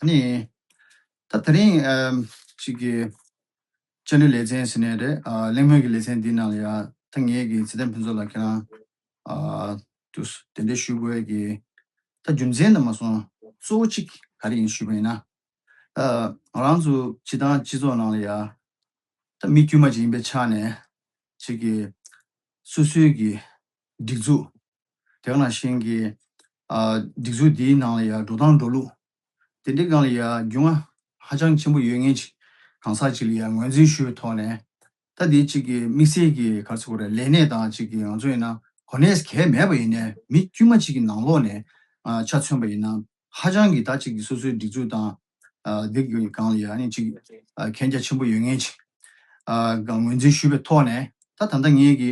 ནི། ད་དེ་རིང་གཅིག་གི། བཅའ་ལུས་ལེ་ཚན་ཟེར་ནས་རེད། གླེང་མོལ་གྱི་ལེ་ཚན་འདིའི་ནང་ལ་ཡང། ད་ངེད་ཀྱི་ཚེ་བརྟན་ཕུན་ཚོགས་ལ་ཁྱེད་རང། དུ་གདན་འདྲེན་ཞུ་དགོས་ཀྱི། ད་རྒྱུ་མཚན་ནི་མ་སོང། གཙོ་བོ་གཅིག་ག་རེ་ཡིན་ཞུས་པ་ཡིན་ན། ད་ང་རང་ཚོ་སྤྱི་བཏང་སྤྱི་ཚོགས་ནང་ལ་ཡང། ད་མི་དཀྱུས་མ་ཅིག་ཡིན་པའི་ཆ་ནས། གཅིག་གི། སོ་སོའི་གི། སྒྲིག་འཛུགས། དེ་ག་ནང་བཞིན་གྱི། སྒྲིག་འཛུགས་འདིའི་ནང་ལ་ཡང་འགྲོ་སྟངས་འགྲོ་ལུགས། དེ་འདྲའི་སྒང་ལ་ཡང་རྒྱུས་མངའ་ཧ་ཅང་ཆེན་པོ་ཡོད་ངེས་ཅིག་གང་ཟག་ཅིག་ལ་ཡང་ངོས་འཛིན་ཞུ་བའི་ཐོག་ནས། ལྟ་དེའི་ཅིག་གི་དམིགས་བསལ་གྱི་ག་ཚོད་གོ་རེ་ལས་གནས་སྟངས་ཅིག་གི་ང་ཚོ་ཡིན་ན་གོ་གནས་གལ་མེད་པ་ཡིན་ནས་མི་དཀྱུས་མ་ཅིག་གི་ནང་ལོགས་ནས་ཆ་མཚོན་པ་ཡིན་ན་ཧ་ཅང་གི་ད་ཅིག་གི་སོ་སོའི་སྒྲིག་འཛུགས་དང། དེ་གི་སྒང་ལ་ཡང་ཅིག་གན་རྒྱ་ཆེན་པོ་ཡོད་ངེས་ཅིག་གི་ངོས་འཛིན་ཞུ་བའི་ཐོག་ནས་ད་ད་ལྟ་ངེད་ཀྱི།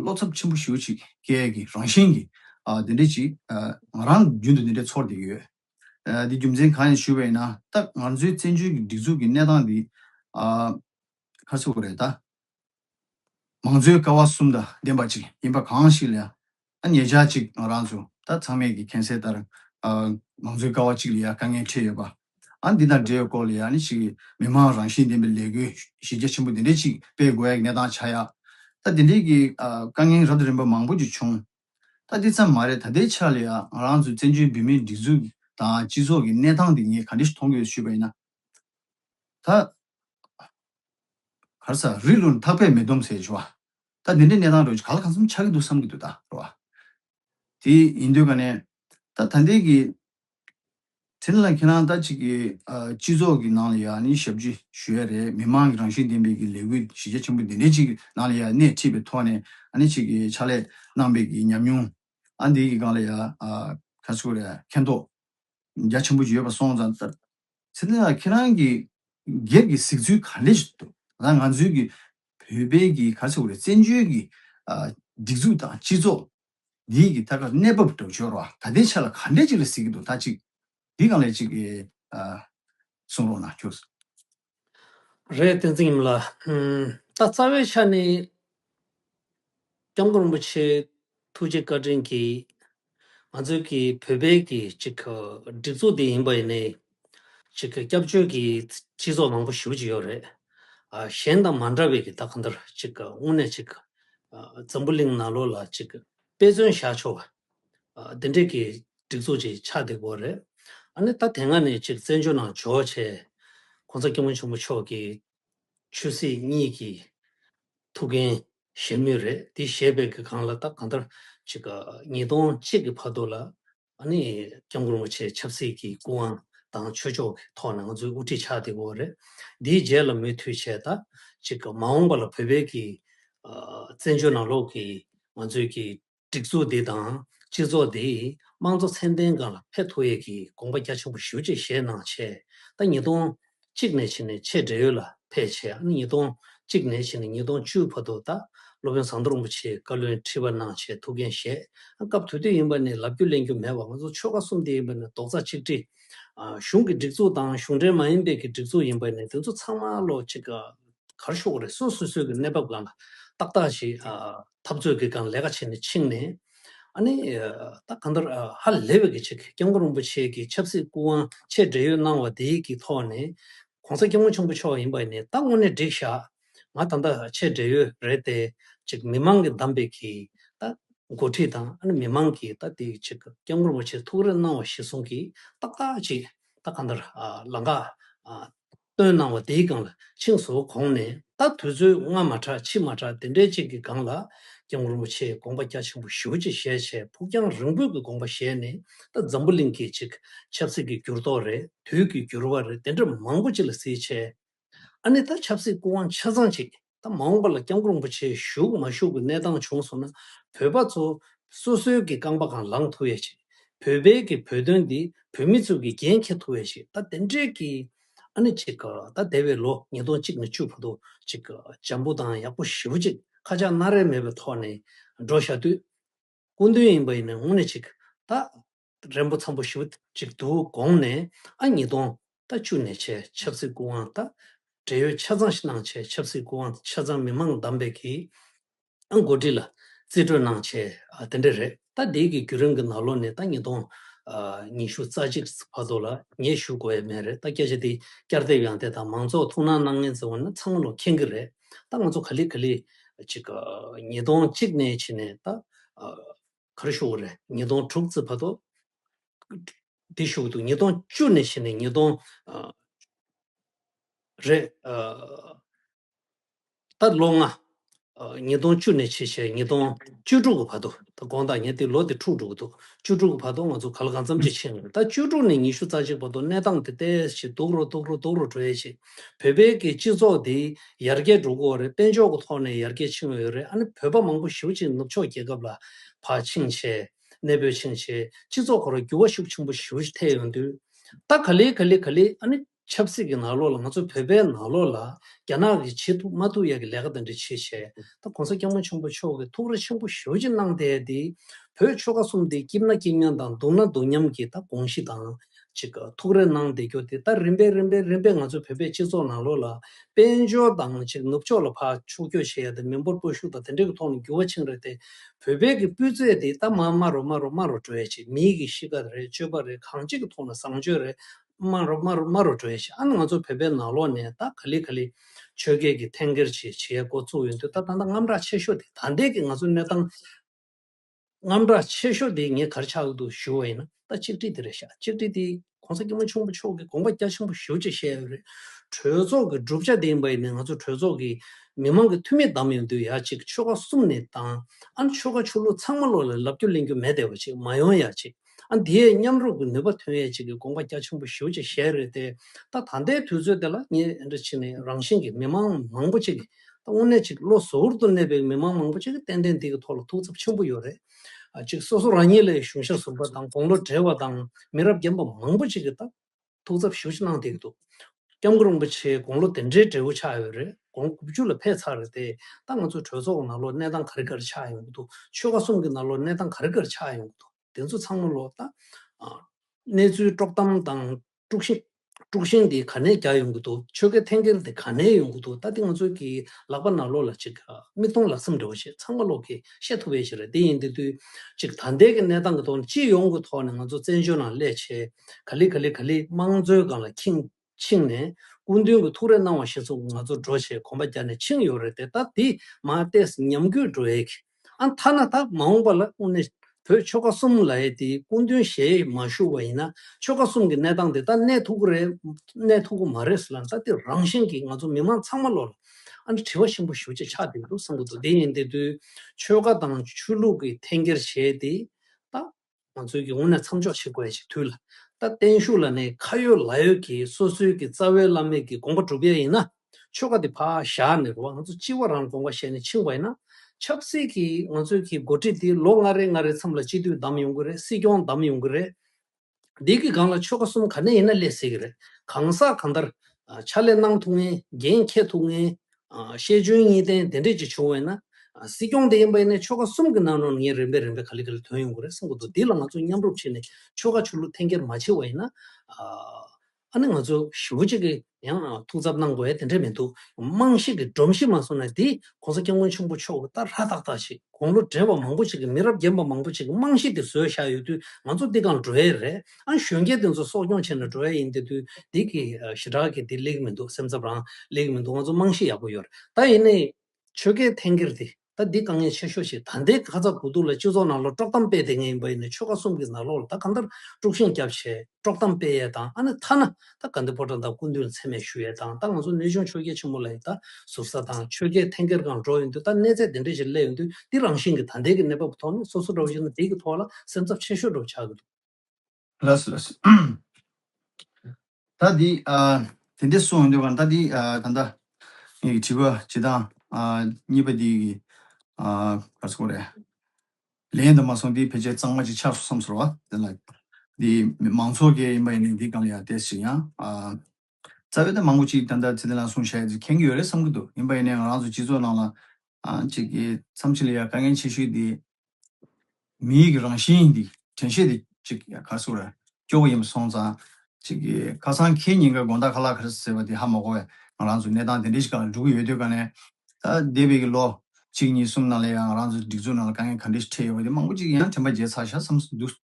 བློ་འཚབ་ཆེན་པོ་ཞུ་ཅིག་སྐད་ཀྱི་རང་བཞིན་གྱི་དེ་འདྲས་ཅིག་ང་རང་རྒྱུན་དུ་དེ་འདྲས་ཚོར་གྱི་ཡོད། འདི་རྒྱུ་མཚན་གང་ཡིན་ཞུ་བས་ན་ད་ང་ཚོའི་བཙན་བྱོལ་གྱི་སྒྲིག་འཛུགས་ཀྱི་གནས་སྟངས་འདི་ཁ་གསལ་བོ་རེད་ད། མང་གཙོའི་ཀ་བ་གསུམ་དང་ལྡན་པ་ཅིག་ཡིན་པ་གང་ཞིག་ལ་ད་ངེད་ཅག་ཅིག་ང་རང་ཚོ་ད་ཚང་མས་ཀྱི་གན་སེལ་ལྟར། མང་གཙོའི་ཀ་བ་གཅིག་ལ་ཡང་དཀའ་ངལ་འཕྲད་ཡོད་པ། ཨང་འདི་དང་འབྲེལ་ཡོད་སྐོར་ལ་ཡང་ནི་ཞིག་མི་དམངས་རང་བཞིན་ལྡན་པའི་ལས་འགུལ་གཞི་རྒྱ་ཆེན་པོ་འདི་འདྲའི་ཅིག་སྤེལ་དགོས་ཡ་གི་གནས་སྟངས་ཆགས་ཡ། ད་འདི་འདྲའི་ཀྱི་དཀའ་ངལ་རབ་དང་རིམ་པ་མང་པོ་ཅིག་བྱུང། ད་འདི་ཙམ་མ་རེད་ད་ལྟའི་ཆར་ལ་ཡང་ང་རང་ཚོའི་བཙན་བྱོལ་བོད་མིའི་སྒྲིག་འཛུགས་དང་སྤྱི་ཚོགས་ཀྱི་གནས་སྟངས་འདི་ངས་ག་འདྲ་ཞིག་མཐོང་གི་ཡོད་ཞུས་པ་ཡིན་ན། ད། གར་ས་རི་ལུ་ནི་ཐག་པས་མི་སྡོམ་ཟེར་བ། ད་འདི་འདྲའི་གནས་སྟངས་རེད་བྱ་ག་ལ་གང་བསམ་ཆགས་ཀྱི་འདུག་བསམ་གྱི་འདུག་ད་རེད་བ། དེ་ཡིན་དུས་ག་ནས་ད་ད་འདས་ཀྱི། དེ་ལ་ཁྱེད་རང་ད་ཅིག་གི་སྤྱི་ཚོགས་ཀྱི་ནང་ལ་ཡང་ནི་ཞབས་ཕྱི་ཞུ་ཡ་རེད་མི་མང་གི་རང་བཞིན་ལྡན་པའི་ཀྱི་ལས་འགུལ་གཞི་རྒྱ་ཆེན་པོ་འདི་འདྲའི་ཅིག་གི་ནང་ལ་ཡང་སྣེ་ཁྲིད་པའི་ཐོག་ནས་ཨ་ནི་ཅིག་གི་ཕྱག་ལས་གནང་པའི་ཀྱི་ཉམས་མྱོང་ཨ་འདི་ཀྱི་སྒང་ལ་ཡང་ཁ་ཆུ་རེད་མཁྱེན་རྟོགས་རྒྱ་ཆེན་པོ་ཡོད་པ་སོང་ཙང་ད་ཚེ་འདི་ན་ཁྱེད་རང་གི་སྒེར་གྱི་གཟིགས་ཚུལ་ག་རེ་ཞིག་འདུག་ད་ང་ཚོའི་གི་བོད་པའི་གི་ག་ཚོད་དགོས་རེད་བཙན་བྱོལ་གི་སྒྲིག་འཛུགས་དང་སྤྱི་ཚོགས་འདིའི་གི་ད་ག་གནས་བབ་དོ་ཅོར་བ་ད་ལྟའི་ཆ་ལ་ག་འདྲས་ཅིག་ལ་གཟིགས་ཀྱི་འདུག་ད་ཅིག་འདི་གང་ལས་ཅིག་གི་གསུངས་རོགས་གནང་ཁྱོད། རེད་བསྟན་འཛིན་ཡིན་མོད་ལ། ད་རྩ་བའི་ཆ་ནས། སྐྱབས་མགོན་རིན་པོ་ཆེ་ཐུགས་རྗེ་བཀའ་དྲིན་གྱིས། ང་ཚོའི་གི་བོད་པའི་གི་ཅིག་གི་སྒྲིག་འཛུགས་འདི་ཡིན་པ་ཡིན་ནའི། ཅིག་གི་སྐྱབས་བཅོལ་གྱི་སྤྱི་ཚོགས་མང་པོ་ཞུགས་ཅིག་ཡོད་རེད། གཞན་དང་མ་འདྲ་བའི་གི་ད་ག་འདིར་ཅིག་གི་དངོས་གནས་ཅིག་གི་འཛམ་བུ་གླིང་ན་ལོ་ལ་ཅིག་གི་དཔེ་མཚོན་བཞག་ཆོག་པ། འདི་འདྲའི་གི་སྒྲིག་འཛུགས་ཅིག་ཆགས་འདེགས་པོ་རེད། ཨ་ནི་ད་དེ་སྔ་ནས་ཅིག་བཙན་བྱོལ་ནང་འབྱོར་བ་ཆེད། ྋགོང་ས ྋསྐྱབས་མགོན་ཆེན་པོ་མཆོག་གི་ཆོས་སྲིད་གཉིས་ཀྱི་ཐུགས་འགན་བཞེས་མུས་རེད་དེ་བཞེས་པའི་གི་གང་ལ་ད་གང་ལྟར་ཅིག་ག་ཉིས་སྟོང་གཅིག་གི་བར་དོ་ལ་ཨ་ནི་སྐྱབས་མགོན་རིན་པོ་ཆེ་ཆབ་སྲིད་ཀྱི་སྐུ་དབང་དང་ཆོས་ཕྱོགས་ཀྱི་ཐོག་ནས་ང་ཚོའི་དབུ་ཁྲིད་ཆགས་དེ་བོ་རེད་དེའི་རྗེས་ལ་མུས་མཐུད་བྱས་ད་ཅིག་ག་མ་འོངས་པ་ལ་བོད་པའི་གི་བཙན་བྱོལ་ནང་ལོགས་ཀྱི་ང་ཚོའི་གི་སྒྲིག་འཛུགས་འདི་དང་སྤྱི་ཚོགས་འདིས་དམངས་གཙོ་ཚད་ལྡན་འགའ་ལ་ཕན་ཐོགས་ཡས་ཀྱི་དགོངས་པ་རྒྱ་ཆེན་པོ་ཞུ་ཆེད་བཞེས་གནང་ཆེད་ཟླ་ཉིས་སྟོང་གཅིག་ནས་ཕྱི་ནས་ཆེད་འབྲེལ་ཡོད་ལ་ཕེབས་ཆེད་ཨ་ནི་ཉིས་སྟོང་གཅིག་ནས་ཕྱི་ནས་ཉིས་སྟོང་བཅུའི་བར་དུ་ད་སློབ་དཔོན་ཟངས་མདོག་རིན་པོ་ཆེའི་བཀའ་བློན་ཁྲི་པ་གནང་ཆེད་ཐུགས་འགན་བཞེས། སྐབས་དུས་དུས་ཡིན་པ་ནི་ལབ་རྒྱུ་གླེང་རྒྱུ་མེད་པར་ང་ཚོ་ཆོལ་ཁ་གསུམ་དེ་ཡིན་པ་ནི་རྡོག་རྩ་གཅིག་སྒྲིལ། གཞུང་གི་སྒྲིག་འཛུགས་དང་གཞུང་འབྲེལ་མ་ཡིན་པའི་གི་སྒྲིག་འཛུགས་ཡིན་པ་ནི་དེ་ཚོ་ཚང་མ་བློ་གཅིག་གར་ཤོག་རེ་ཟུང་སོ་སོའི་གི་གནས་བབ་གང་ལ་ཏག་ཏག་ཞིག་འཐབ་རྩོད་ཀྱི་སྒང་ལས་ཀ་བྱས་ནས་ཕྱིན་ནས། ཨ་ནི། ད་གང་ལྟར་ཧ་ལས་པའི་གྱི་སྐྱབས་མགོན་རིན་པོ་ཆེ་གྱི་ཆབ་སྲིད་སྐུ་དབང་ཆེད་འབྲེལ་ཡོད་གནང་བ་དེ་གྱི་ཐོག་ནས། གོང་ས་སྐྱབས་མགོན་ཆེན་པོ་མཆོག་ཡིན་པ་ནི་ད་དངོས་གནས་འགྲིག་ཤག་ང་ད་ལྟ་ཆེད་འབྲེལ་ཡོད་རེད་དེ། གཅིག་མི་མང་གི་གདམས་པའི་གྱི་ད་འགོ་ཁྲིད་དང་ཨ་ནི་མི་མང་གྱི་ད་དེ་གྱི་སྐྱབས་མགོན་རིན་པོ་ཆེ་ཐུགས་རེ་གནང་བ་གཞི་བཟུང་གྱི་ཏག་ཏག་ཅིག་ད་གང་ལྟར་ལ་འགག། བཏོན་གནང་བ་དེའི་སྒང་ལ་ཆིངས་སུ་གོང་ནས་ད་དུས་ཚོད་སྔ་མ་དྲག་ཕྱི་མ་དྲག་དེ་འདྲའི་ཅིག་གི་སྒང་ལ ྋསྐྱབས་མགོན་རིན་པོ་ཆེས་དགོངས་པ་རྒྱ་ཆེན་པོ་ཞུ་ཅིག་ཞལ་ཆད་ཕུགས་རྒྱང་རིང་པོས་ཀྱི་དགོངས་པ་བཞེས་ནས་ད་འཛམ་བུ་གླིང་གི་ཅིག་ཆབ་སྲིད་ཀྱི་འགྱུར་ལྡོག་རེད་དུས་ཀྱི་འགྱུར་བ་རེད་དེ་འདྲ་མང་པོ་ཅིག་ལ་གཟིགས་ཆེད་ཨ་ནི་ད་ཆབ་སྲིད་སྐུ་དབང་ཆ་ཚང་ཅིག་ད་མ་འོངས་པ་ལ་སྐྱབས་མགོན་རིན་པོ་ཆེ་བཞུགས་མ་བཞུགས་ཀྱི་གནས་སྟངས་བྱུང་སོང་ན་བོད་པ་ཚོ་སོ་སོའི་གི་རྐང་པ་གང་ལངས་ཐུབ་ཡས་ཆེ། བོད་པའི་གི་བོད་དོན་འདི་བོད་མི་ཚོའི་གི་རྒྱན་འཁྱེར་ཐུབ་ཡས་ཆེ་ད་དེ་འདྲའི་གི་ཨ་ནི་ཅིག་ད་དེ་བས་ལོ་ཉིས་སྟོང་གཅིག་ནས་བཅུ་བོ་དོ་ཅིག་འཇམ་པོ་དང་ཡག་པོ་ཞི་བོ་ཅིག་ཁ་ཆག་སྣ་རལ་མེད་པའི་ཐོག་ནས་འགྲོ་ཞག་དུས་སྐུ་མདུན་ཡིན་པ་ཡིན་ན་དངོས་གནས་ཅིག་ད་རན་པོ་འཚམ་པོ་ཞུ་ཅིག་འདུག་དགོངས་ནས་ཨ་ཉིས་སྟོང་རྟ་བཅུ་ནས་བྱས་ཆབ་སྲིད་སྐུ་དབང་རྟ་བྲེ་ཡོད་ཆ་ཚང་ཞིག་གནང་བྱས་ཆབ་སྲིད་སྐུ་དབང་ཆ་ཚང་མི་མང་གདམས་པའི་གི་ཨ་མགོ་འདྲི་ལ་རྩིས་སྤྲོད་གནང་བྱས་ཨ་དེ་འདྲ་རེད་རྟ་འདིའི་གི་རྒྱུ་རིང་གི་ནག་ལོ་ནས་རྟ་ཉིས་སྟོང་ཨ་ཉིས་ཞུ་རྩ་གཅིག་བར་དོ་ལ་ངས་ཞུ་དགོ་ཡ་མེད་རེད་རྟ་སྐད་ཆ་འདི་བསྐྱར་དེབ་ཡང་དེ་དང་མང་ཚོགས་ཐུགས་སྣང་གནང་ངན་ཟེར་བ་ན་ཚང་མ་ལོ་མཁྱེན་གི་རེད་རྟ་ང་ཚོ་ག་ལི་ག་ལི་ཅིག་ཉིས་སྟོང་གཅིག་ནས་བྱས་ནས་རྟ་ཨ། གར་བཞུགས་བར་ཉིས་སྟོང་དྲུག་བརྩི་བར་དུ། དེ་བཞུགས་དུས་ཉིས་སྟོང་བཅུ་ནས་ཕྱི་ནས་ཉིས་སྟོང། རེད། ད་ལོ་ལྔ། ཉིས་སྟོང་བཅུ་ནས་ཕྱི་ཞེས་ཉིས་སྟོང་བཅུ་དྲུག་གི་བར་དུ་ད་དགོངས་དག་ཉེ་དེ་ལོ་དེ་འཁྲུག་འགྲོ་གི་འདུག་བཅུ་དྲུག་གི་བར་དུ་ང་ཚོ་ག་ལ་གང་འཚམ་ཅིག་ཕྱིན་ཡོད་ད་བཅུ་དྲུག་ནས་ཉི་ཤུ་རྩ་གཅིག་བར་དུ་གནས་སྟངས་དེ་དལ་གྱིས་སྡུག་རོ་སྡུག་རོ་སྡུག་རོ་འགྲོ་ཡས་ཤིག། བོད་པའི་གི་སྤྱི་ཚོགས་འདི་ཡར་རྒྱས་འགྲོ་དགོས་རེད་དཔལ་འབྱོར་གི་ཐོག་ནས་ཡར་རྒྱས་ཕྱིན་ཡོད་རེད་ཨ་ནི་བོད་པ་མང་པོ་ཞིབ་ཅིང་ནུབ་ཕྱོགས་རྒྱལ་ཁབ་ལ་བག་ཕྱིན་བྱས་གནས་སྤོས་ཕྱིན་བྱས་སྤྱི་ཚོགས་ཁོ་ར་འགྱུར་བ་ཤུགས་ཆེན་པོ་ཞིབ་ཐེ་ཡོད་དུས་ད་ག་ལི་ག་ལི་ག་ལི་ཨ་ནི་ཆབ་སྲིད་གི་ནག་ལོག་ལ་ང་ཚོ་བོད་པའི་ནག་ལོག་ལ་རྒྱ་ནག་གི་བྱེད་ཐུབ་མ་ཐུབ་ཡ་གི་ལས་ཀ་དེ་འདྲ་བྱེད་བྱས་ད་གོང་ས་སྐྱ་མོ་ཆེན་པོ་མཆོག་གི་ཐུགས་ར་ཆེན་པོ་ཞིབ་ཅིང་གནང་དེ་འདི་བོད་ཆོལ་ཁ་གསུམ་འདི་སྐྱིབས་ན་སྐྱིབས་མཉམ་དང་སྡུག་ན་སྡུག་མཉམ་གི་ད་དགོངས་གཞི་དང་ཅིག་ཐུགས་རེ་གནང་བསྡད་རྒྱུ་དེ་ལྟར་རིམ་པས་རིམ་པས་རིམ་པས་ང་ཚོའི་བོད་པའི་སྤྱི་ཚོགས་ནང་ལོགས་ལ་དཔལ་འབྱོར་དང་ཅིག་ནུབ་ཕྱོགས་ལ་ཕ་ཕྱུག་སྐྱོ་བྱེད་ཡ་དེ་མི་འབོར་སྤོ་ཤུགས་དང་དེ་འདྲས་ཀྱི་ཐོག་ནས་འགྱུར་བ་ཕྱིན་རེད་དེ་བོད་པའི་གི་སྤུས་ཚད་དེ་ད་མ་སྨྲ་རོ་སྨྲ་རོ་སྨྲ་རོ་བྲོས་ཅིག་མིའི་གི་གཤིས་ཀ་རེད་སྤྱོད་པ་རེད་གང་ཅིག་གི་ཐོག་ན་བཟང་སྤྱོད་རེད་སྨྲ་རོ་སྨྲ་རོ་སྨྲ་རོ་བྲོས་ཅིག་ཨ་ནི་ང་ཚོ་བོད་པའི་ནང་ལོགས་ནས་ད་ག་ལི་ག་ལི་ཆོས་རྒྱལ་གི་འཐེན་འཁྱེར་ཅིག་བྱེད་ཡ་འགོ་བཙུགས་ཡོད་འདུག་ད་ད་ལྟ་རྔམ་དྲག་ཆེ་ཤོས་དེ་ད་ལྟའི་གི་ང་ཚོའི་གནས་སྟངས། རྔམ་སྒྲ་ཆེ་ཤོས་དེ་ངས་གར་ཆག་གི་འདུག་ཞུ་བ་ཡིན་ན་ད་གཅིག་སྒྲིལ་དེ་རེད་ཤག་གཅིག་སྒྲིལ་དེ ྋགོང་ས ྋསྐྱིད་མོ་ཆུང་པོ་མཆོག་གི་དགོངས་པ་རྒྱ་ཆེན་པོ་ཞུ་ཅེས་བཤད་ཡོད་རེད། གྲོས་ཚོགས་ཀྱི་བསྒྲུབ་བྱ་དེ་ཡིན་པ་ཡིན་ནའི་ང་ཚོ་གྲོས་ཚོགས་ཀྱི་མི་མང་གི་འཐུས་མི་བདམས་ཡོང་དུས་ཡག་གཅིག་ཆོལ་ཁ་གསུམ་ནས་བདམས་ཨ་ནི་ཆོལ་ཁ་ཆོས་ལུགས་ཚང་མ་བློ་ལ་ལབ་རྒྱུ་གླེང་རྒྱུ་མེད་བདེ་བ་ཅིག་མ་ཡོང་ཡག་གཅིག། ཨ་འདིའི་མཉམ་རུབ་ཀྱི་ནུས་པ་ཐོན་ཡས་བྱེད་ཀྱི་དགོངས་པ་རྒྱ་ཆེན་པོ་ཞུ་བྱེད་ཞེས་རེད་དེ། ད་ད་ལྟའི་དུས་ཚོད་འདི་ལ་ཉིན་རེ་ཕྱི་ནས་རང་བཞིན་གྱི་མི་མང་མང་པོ་ཅིག་གིས། དངོས་གནས་ཅིག་བློ་གཟུ་བོར་དུ་གནས་པའི་མི་མང་མང་པོ་ཅིག་གིས་ཏན་ཏན་འདི་གི་ཐོག་ལ་ཐུགས་འཚབ་ཆེན་པོ་ཡོད་རེད། ཅིག་སོ་སོ་རང་ཉིད་ལས་གཞུང་ཞབས་ཟུར་པ་དང་དགོང་ལོ་བགྲེས་བ་དང་མི་རབས་རྒན་པ་མང་པོ་ཅིག་གིས་ད། ཐུགས་འཚབ་ཞུ་ཞུ་གནང་བསྡད་ཀྱི་འདུག་སྐྱབས་མགོན་རིན་པོ་ཆེའི་དགུང་ལོ་དེ་འདྲའི་འབྲས་བུ་ཆགས་ཡོད་རེད་དགོངས་དགུ་བཅུ་ལ་ཕེབས་ཚར་རེད་ད་ང་ཚོའི་གྲོས་ཚོགས་ནང་ལོ་གནས་སྟངས་ག་རེ་ག་རེ་ཆགས་ཡོང་གི་འདུག་ཆོལ་ཁ་གསུམ་གྱི་ནང་ལོ་གནས་སྟངས་ག་རེ་ག་རེ་ཆགས་ཡོང་གི་འདུག་དེ་ཚོ་ཚང་མ་ལོ་ད་གནས་ཚུལ་དཀྲོག་གཏམ་དང་དཀྲུག་ཤིང་དཀྲུག་ཤིང་དེ་ག་ནས་རྒྱག་ཡོང་གི་འདུག་ཆོལ་ཁའི་འཐེན་འཁྱེར་དེ་ག་ནས་ཡོང་གི་འདུག་ད་དེ་ང་ཚོའི་གི་ལག་པ་ན་ལོ་ལ་ཅིག་མིག་མཐོང་ལག་ཟིན་འདྲ་བོ་ཞིག་ཚང་མ་ལོག་གི་ཤེས་ཐུབ་པའི་ཞིག་རེད་དེ་ཡིན་དེ་དུས་ཅིག་ད་ལྟའི་གི་གནས་སྟངས་ཀྱི་ཐོག་ནས་སྤྱི་ཡོངས་ཀྱི་ཐོག་ནས་ང་ཚོ་བཙན་བྱོལ་ནང་སླད་ཆེ། ག་ལི་ག་ལི་ག་ལི་དམངས་གཙོའི་སྒང་ལ་ཁྱིང་ཕྱིང་ནས་སྐུ་མདུན་གྱི་ཐུགས་རེ་གནང་བ་ཞིག་ཚོ་ང་ཚོ་འགྲོ་བྱེད་གོམ་པ་རྒྱག་ནས་ཕྱིང་ཡོད་རེད་དེ་ད་དེ་མ་བལྟས་ཉམས་རྒུད་འགྲོ་ཨེ་གི་ཨ་མཐའ་ན་ད་མ་འོངས་པ་ལ་དངོས་གནས་བོད་ཆོལ་ཁ་གསུམ་ལ་ཨེ་དེ་སྐུ་མདུན་གཞས་མ་ཞུ་བ་ཡིན་ན་ཆོལ་ཁ་གསུམ་གྱི་གནས་སྟངས་དེ་ད་གནས་ཐུག་གི་རེད་གནས་ཐུག་གི་མ་རེད་ཟེར་ལ་ད་དེ་རང་བཞིན་གྱིས་ང་ཚོ་མི་མང་ཚང་མ་ལོག་ལ་ཨ་འདྲ་དྲི་བ་ཆེན་པོ་ཞུ་བྱེད་ཆགས་བསྡད་འདུག་བསམ་གི་འདུག་དེ་ཡིན་དེ་དུས་ཆོལ་ཁ་དང་ཆོས་ལུགས་ཀྱི་འཐེན་འཁྱེར་བྱས་དེ་ད་ང་ཚོའི་སྒེར་ངོ་ནས་མཚམས་འཇོག་བྱེད་དགོས་ཡ་ཞིག་ཐུག་ལ། ད་བརྟན་བཞུགས་ལ་ནི་ཁ་ཡོད་ལག་ཡོད་ཀྱི་སོ་སོའི་གི་རྩ་བའི་བླ་མེད་ཀྱི་དགོངས་པ་གྲུབ་ཡ་ཡིན་ན། ཆོལ་ཁ་དེ་ཕ་བཞག་ནས་རུ་བ་ང་ཚོ་སྤྱི་བ་རང་དགོངས་པ་བཞེས་ནས་ཕྱིན་བ་ཡིན་ན། ཆབ་སྲིད་ཀྱི་ང་ཚོའི་གི་འགོ་ཁྲིད་དེ་ལོ་ལྔ་རེ་ལྔ་རེ་མཚམས་ལ་སྤྱི་འཐུས་བདམས་ཡོང་གི་རེད་སྲིད་སྐྱོང་བདམས་ཡོང་གི་རེད། འདི་གི་སྒང་ལ་ཆོལ་ཁ་གསུམ་ག་ནས་ཡིན་ན་སླེབས་སྲིད་ཀྱི་རེད། གང་ཟག་གང་ལྟར། ཕྱག་ལས་གནང་ཐུབ་ངེས་འགན་འཁྱེར་ཐུབ་ངེས། ཤེས་འཇོན་གཉིས་ལྡན་དེ་འདྲས་ཀྱི་བྱུང་བས་ན། སྲིད་སྐྱོང་དེ་ཡིན་པ་ཡིན་ནས་ཆོལ་ཁ་གསུམ་གྱི་ནང་ནང་ངས་རིམ་པས་རིམ་པས་ག་ལི་ག་ལི་དོན་ཡོང་གི་རེད་བསམ་གྱི་འདུག་འདི་ལ་ང་ཚོ་མཉམ་རུབ་བྱས་ནས་ཆོལ་ཁ་ཆོས་ལུགས་འཐེན་འཁྱེར་མ་བྱས་བ་ཡིན་ན། ཨ་ནི་ང་ཚོ་ཞི་བོ་གཅིག་གི་ཡང་ཐུགས་འཚབ་གནང་དགོས་བ་དེ་འདྲས་མི་འདུག་དམངས་གཤིས་ཀྱི་སྒྲོམ་གཞི་མ་སོང་ན་འདི ྋགོང་ས་སྐྱབས་མགོན་ཆེན་པོ་མཆོག་གི་ལྟར་ཧ་ཐག་ཐག་ཞིག་དགུང་ལོ་བགྲེས་པ་མང་པོ་ཞིག་གི་མི་རབས་རྒན་པ་མང་པོ་ཞིག་གི་དམངས་གཤིས་དེ་བཟོས་བཞག་ཡོད་དུས་ང་ཚོ་འདི་གང་འགྲོ་ཡས་རེད། ཨང་གཞོན་སྐྱེས་དེ་ཚོ་གསོ་སྐྱོང་བྱས་ནས་འགྲོ་ཡ་ཡིན་དེ་དུས་འདི་གི་ཞི་དྲག་གི་དེ་ལེགས་མི་འདུག་སེམས་འཚབ་རང་ལེགས་མི་འདུག་ང་ཚོ་རྨང་གཞི་ཡག་པོ་ཡོད་རེད་ད་ཡིན་ནའི་ཆོལ་ཁའི་འཐེན་འཁྱེར་དེ་ད་འདི་དཀའ་ངལ་ཆེ་ཤོས་ཤིག་ད་འདའི་ཁ་ཚ་དགོས་གཏུག་ལ་སྤྱི་ཚོགས་ནང་ལ་དཀྲོག་གཏམ་སྤེལ་དེ་ངེས་ཡིན་པ་ཡིན་ནའི་ཆོལ་ཁ་གསུམ་གི་ནག་ལོག་ལ་ད་གང་ལྟར་དཀྲུག་ཤིང་རྒྱབ་བྱས་དཀྲོག་གཏམ་སྤེལ་ཡས་དང་ཨ་ནི་ཐ་ན་ད་ག་འདི་ཕོ་བྲང་དང་སྐུ་མདུན་མཚན་མེད་ཞུ་ཡས་དང་ད་ང་ཚོ་ནུས་ཆུང་ཆོལ་རྒྱལ་ཆེན་མོ་ལ་ཡི་ད་ཟུར་ས་དང་ཆོལ་ཁའི་འཐེན་འཁྱེར་གང་འགྲོ་ཡིན་དུས་ད་གནས་ཚད་དེ་འདྲས་ཞིག་སླེབས་ཡིན་དུས་འདི་རང་བཞིན་གྱི་ད་འདའི་གི་གནས་བབ་ཐོག་ནས་སོ་སོ་འདྲ་བོ་ཞིག་ནི་འདི་གི་ཐོག་ལ་སེམས་འཚབ་ཆེ་ཤོས་འགྲོ་བྱ་གི་འདུག། ལས་ལས། ད་འདི་ཨ་དེ་འདྲས་སུའང་འདོད་པ་ད་འདི་ཨ་ད་ལྟ་ངས་ཀྱི་བྲིས་པ་ཇི་ལྟང་ཨ་གཉིས་པ་འདི་གི་ཨ་ག་ཚོད་རེད། ལས་ཡིན་དུ་མ་སོང་འདི་ཕལ་ཆེར་གཙང་མ་ཅིག་ཆགས་སོང་བསམ་ཚོར་བ་དེ་ལ། འདི་མང་ཚོགས་ཀྱི་ཡིན་པ་ཡིན་ནའི་འདི་གང་ལ་ཡང་ཏེ་ཞིག་ཡང་ཨ། རྩ་བའི་དོན་མང་པོ་གཅིག་ཏན་ཏན་ཚད་ལྡན་ལ་གསུང་བཤད་བྱེད་མཁན་གྱི་ཡོད་རེད་བསམ་གྱི་འདུག་ཡིན་པ་ཡིན་ནའི་ང་རང་ཚོའི་སྤྱི་ཚོགས་ནང་ལ་གཅིག་གི་མཚམས་ཆད་ལ་ཡང་དཀའ་ངལ་ཆེ་ཤོས་དེ་མིའི་གི་རང་བཞིན་དེ་དྲན་ཤེས་དེ་གཅིག་ཡང་ཁ་སུ་ར་སྐྱོ་བོ་ཡིན་པ་སོང་ཙང་གཅིག་གི་ཁ་སང་ཁྱེད་ཉིན་འགའི་དགོངས་དག་ཁ་ལག་ཁ་ཟེར་བ་དེ་ཧ་མ་གོ་བས་ང་རང་ཚོ་གནས་སྟངས་དེ་འདྲའི་ཞིག་ག་ལ་འགྲོ་གི་ཡོད་དུས་ཀ་ནས་ད་འདས་པའི་གི་ལོ་གཅིག་གཉིས་གསུམ་ནང་ལ་ཡང་ང་རང་ཚོའི་སྒྲིག་འཛུགས་ནང་ལ་དཀའ་ངལ་ག་འདྲའི་ཞིག་འཕྲད་ཡོད་པ་དེ་མང་པོ་གཅིག་ཡང་དྲན་པ་བརྗེད་ཚར་ཤ་བསམ་སུ་འདུག།